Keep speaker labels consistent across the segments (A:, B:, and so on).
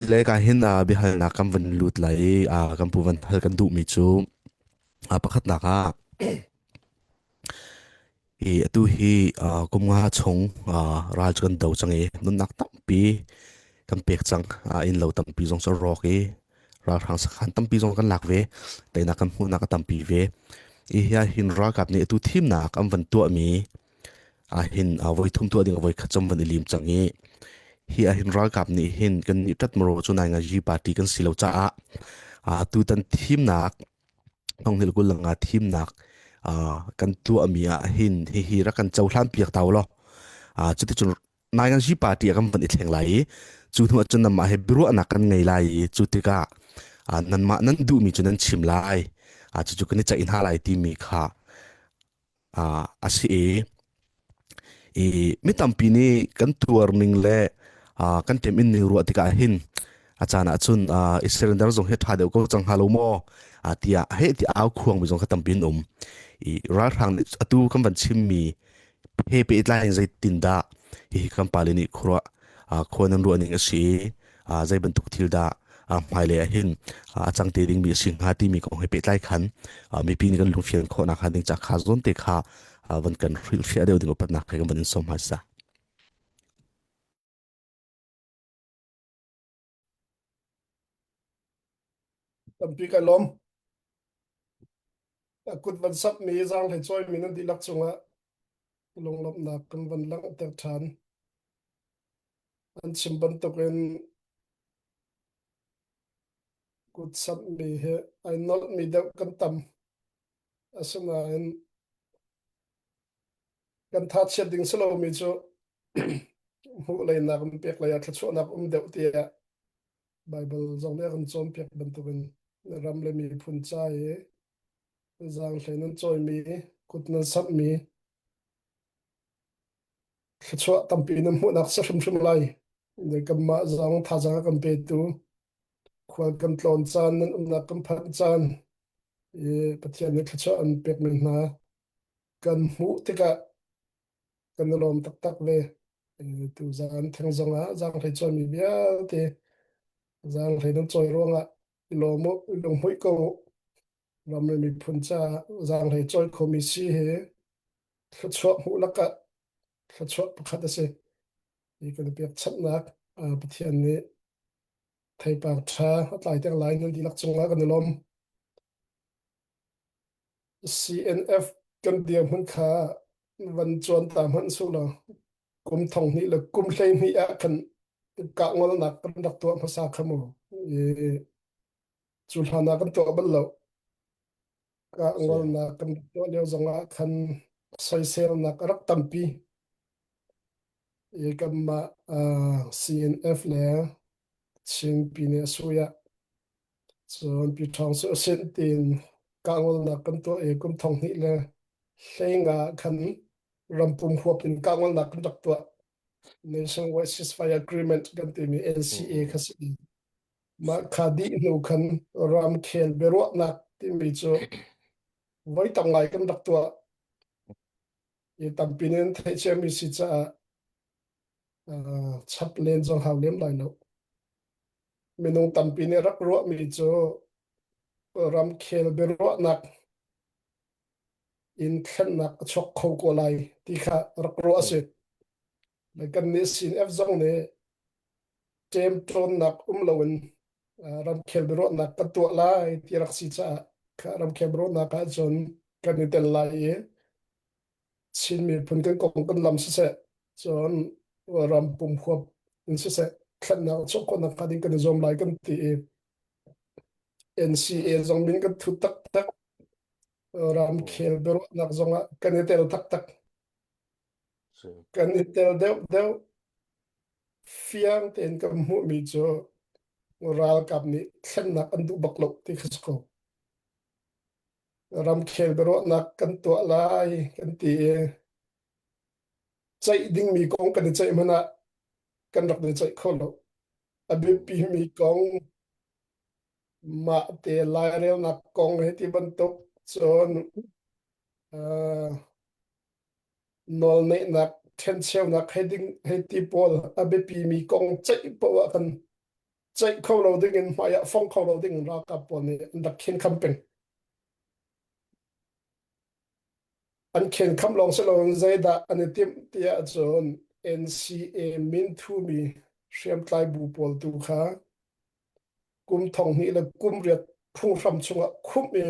A: Cile ka hin ah biahalnak kan van lut lai i ah kan pu van hal kan duhmi cu ah pakhatnak ah i atu hi ah kum nga chung ah ral cu kan do cang i nunnak tampi kan pek cang ah inn lo tampi zong cu rawk i ralhrang sakhan tampi zong kan lak ve teinak kan hmuhnak a tampi ve i hi ah hin ralkap nih atu thimnak an van tuahmi Ahhin a voithum tuah ding a voikhat cam van i lim cang i hi ahhin ralkap nih hin kannih ṭatmaro cu nai ngaji party kan si lo caah tutan thimnak hnonghilh gulang ah thimnak kan tuahmi ah hin hihi rak kan cohlan piak ta u law cuticun nai ngaji party a kan van i thleng lai i cu hnu ahcun nanmah he biaruahnak kan ngei lai i cu tikah nanmah nan duhmi cu nan chim lai cucu kan i ceih hna lai timi kha a si i mi tampi nih kan tuar ning le kan ṭeminn ning ruah tikah hin a caan ahcun Israel zong hi ṭha deuh ko cang hnga lo maw tiah heh ti au khuangmi zong kha tampi an um. I ralhrang nih atu kan van chimmi he pehtlai in zeitin dah hihi kan pale nih khuaruah khuan an ruah ning a si i zei bantuk thil dah hmailei ah hin a cang te dingmi a si hnga timi kong he pehtlai khan mipi nih kan lungfian khawhnak hnga ding ca kha zuam te kha van kan hrilhfiah deuh ding upatnak he kan van in sawm hma sa.
B: Tampi ka lom. Kut van sap mi zang he choi mi nan dilak chungah lunglomnak kan van langh tek than. An chim bantukin kutsamhmi hi ai nolhmi deuh kan tam. Asinain kan thachiat ding si lomi cu hmuhlei nak in peklei ah thluachuahnak um deuh tiah Baibal zong nih a kan cawnpiak bantukin na ram le miphun ca i zaanghlei nan cawimi, kut nan samhmi thluachuah tampi na hmuhnak si hrimhrim lai. Kanmah zong thazaang a kan petu, khual kan tlawn caan, nan umnak kan phanh caan, i Pathian nih thluachuah an pek men hna. Kan hmuh tikah kan i lawm taktak ve. Tu zaan theng zong ah zang hlei cawnmi vialte, zang hlei nan cawi ruangah i lawm u, i lungmuih ko u. ram le miphun ca zaanglei cawi khomi si hi thluachuah hmuh lakah thluachuah pakhat a si. Hi kan biakchanhnak Pathian nih theipar ṭha a tlai tiang lai nan dihlak cungah kan i lawm. CNF kan dirhmun kha van cuan ta hmanh su lo kum thong hnih le kum hlei hnih ah kan kah ngolnak kan rak tuah hmasa kha mu i cu hlan ah kan tuah bal lo ah ngolnak kan tuah lio zong ah khan soiselnak a rak tampi i kanmah uh, CNF le Chinpi nih a suya cun pi ṭhawng cu a sin tiin ka ngolnak kan tuah i kum thong hnih le hlenga khan rampum huap in ka ngolnak kan rak tuah Nationwide Ceasefire Agreement kan timi NCA kha si Mah kha dih hnu khan ramkhel biaruahnak timi cu voi tam ngai kan rak tuah i tampi in theih ciami si caah uh, chap len zong hau lem lai lo. Minung tampi nih rak ruahmi cu ramkhel biaruahnak in thlennak a chok kho ko lai ti kha rak ruah a si. Mai kan nih CNF zong nih ṭemṭawnnak um loin ramkhel biaruahnak kan tuah lai ti rak si caah ramkhel biaruahnak ahcun kan i tel lai i Chin miphun kan kong kan lam siseh cun ram pum huap in siseh thlennak chawk khawhnak hnga ding kan i zuam lai kan ti i NCA zong min kan thu taktak ramkhel biaruahnak zong ah kan i tel taktak Kan i tel deuhdeuh. Fiang tein kan hmuhmi cu ralkap nih thlennak an duh bak lo ti kha si ko. Ramkhel biaruahnak kan tuah lai kan ti i ceih dingmi kong kan i ceih hmanh ah kan rak ni ceih kho lo. A biapimi kong mah te lairelnak kong he ti bantuk cun uh, nawlneihnak ṭhencheunak hei ding hei ti pawl a biapimi kong ceih paoh ah kan ceih kho lo ding in hmai ah fong kho lo ding in ralkap pawl nih an rak khen kham peng. An khen kham lawng si loin zeidah an i timh tiah cun NCA mintumi hriamtlai bu pawl tu kha kum thong hnih le kum riat phunghram chungah khumh i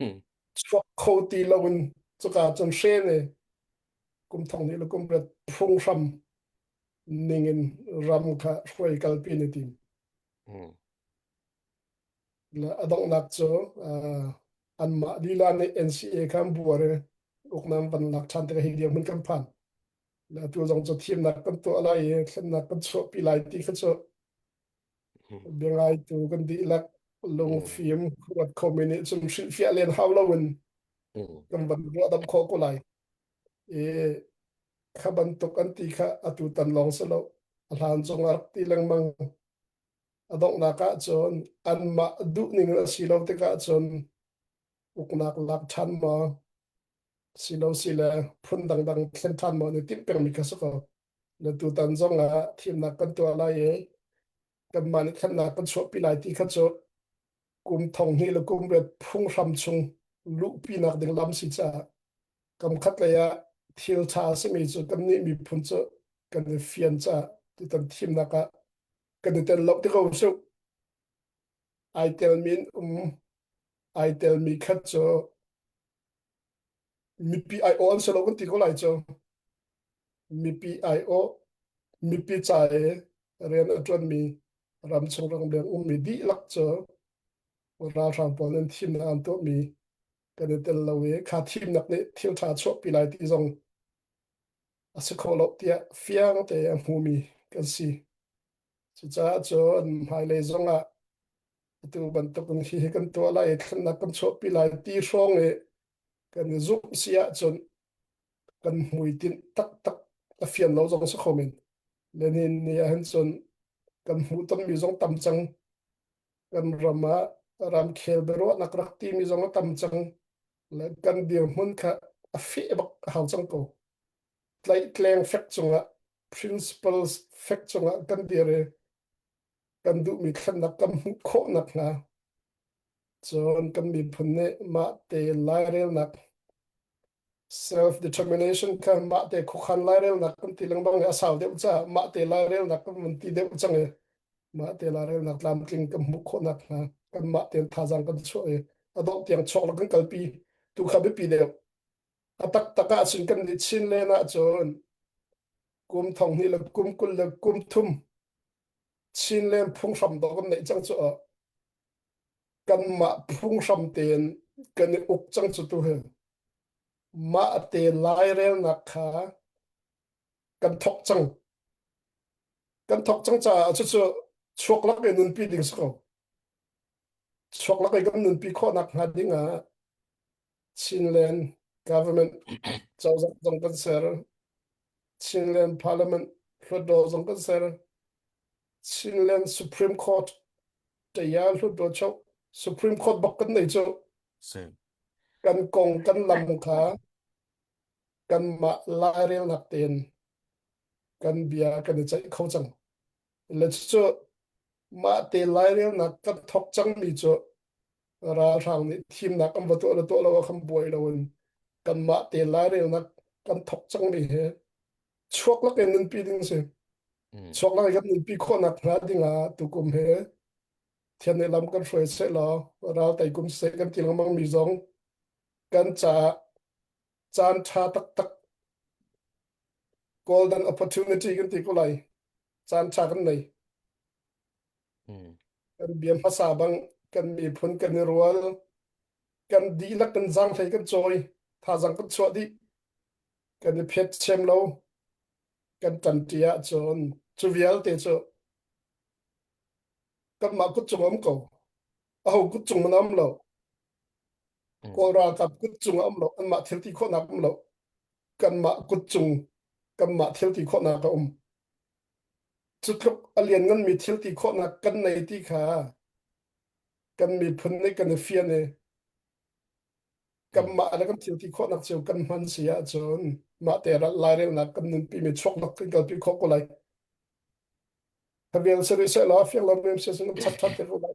B: Hmm. chuak kho ti loin cuka cun hre le kum thong nih le kum rat phunghram ningin ram kha hruai kalpi ni tim Hmm. la adongnak cu uh, anmah lila nih NCA khan buar i uknam van lak than te hi dia mun kan phan la tu zong cu thimnak kan tuah lai i thlennak kan chuah pi lai ti kha cu biangaitu kan dihlak lungfim kuat khomi nih cun hrilhfiah len hau lo in kan van ruah dam khawh ko lai i kha bantuk an ti kha atu tan lawng si lo a hlan zong a ti lengmang a donghnak ah cun anmah duhning a si lo tikah cun uknak lak ṭhan maw si lo si le phun dangdang thlen ṭhan maw ni timh pengmi kha si ko Na tutan zong ah thimnak kan tuah lai i kanmah nih khatnak kan chuahpi lai ti kha cu kum thong hnih le kum riat phunghram chung luhpinak ding lam si caah kam khat lei ah thil ṭha a simi cu kannih miphun cu kan i fian caah tutan thimnak ah kan i tel lo ti ko suk ai telmi in um ai telmi khat cu Mipi aiawh an si lo kan ti ko lai cu. Mipi aiawh, mipi ca i rian a ṭuanmi ramchung rangleng ummi dihlak cu ralhrang pawl an thimnak an tuahmi kan i tel lo i kha thimnak nih thil ṭha a chuahpi lai ti zong a si kho lo tiah fiang tein a hmumi kan si. Cucaah cun hmailei zongah atu bantukin hi kan tuah lai i thlennak kan chuahpi lai ti hrawng i kan i zumh si ahcun kan hmuitinh taktak a fian lo zong si khomin Lenin ni ahhin cun kan hmuh tonmi zong tam cang kan ram ah ramkhel biaruahnak rak timi zong a tam cang le kan dirhmun kha a feh bak a hau cang ko. tlaihtleng fek cungah principles fek cungah kan dir i kan duhmi thlennak kan hmuh khawh nakhnga cun kan miphun nih mah te lairelnak self determination kha mah te khuakhan lairelnak kan ti lengmang i a sau deuh caah mah te lairelnak kan vun ti deuh cang i mah te lairelnak tlamtling kan hmuh khawh nakhnga kan mah tein thazaang kan chuah i a dawh tiang chawk lo kan kalpi tu kha biapi deuh A taktak ahcun kan i chin len ahcun kum thong hnih le kum kul le kum thum chin len phunghram dawh kan neih cang cu kanmah phunghram tein kan i uk cang cu tu hin mah te lairelnak kha kan thok cang kan thok cang caah cucu chuaklak i nunpi ding si ko chuaklak i kan nunpi khawh nak hnga ding ah Chinland government cozah zong kan ser. Chinland parliament hlutdaw zong kan ser. Chinland Supreme Court taya hlutdaw cho Supreme Court bak kan nei cho. Kan kong kan lam kha kan mah lairel nak ten kan bia kan i ceih kho cang. le cu mah te lairelnak kan thok cangmi cu ralhrang nih thimnak an va tuah le tuah lo ah khan buai lo in kan mah te lairelnak kan thok cangmi he chuak lak in nunpi ding si mm. chuak lak in kan nunpi khawhnak hna ding ah tukum he thian ne lam kan hruai se law ral tai kum se kan ti lengmang mi zong kan ca caan ṭha taktak golden opportunity kan ti ko lai caan ṭha kan nei kan bia hmasa bang kan miphun kan i rual kan dihlak kan zang hlei kan chawi thazang kan chuah dih kan i phet chem lo kan ṭanṭi ah cun cu vialte cu kanmah kut cung a um ko aho kut cung an am lo kawl ralkap kut cung a um lo anmah thil ti khawhnak um lo kanmah kut cung kanmah thil ti khawhnak a um cu tluk a lianngan mi thil ti khawhnak kan nei ti kha kan miphun ne kan i fian e kanmah le kan thil ti khawhnak cio kan hman si ahcun mah te ral lai relnak kan nunpi mi chuaknak kan kalpi khawh ko lai Thabiang seh seh law a fiang lo men seh seh lam chak ṭhan te ko lai.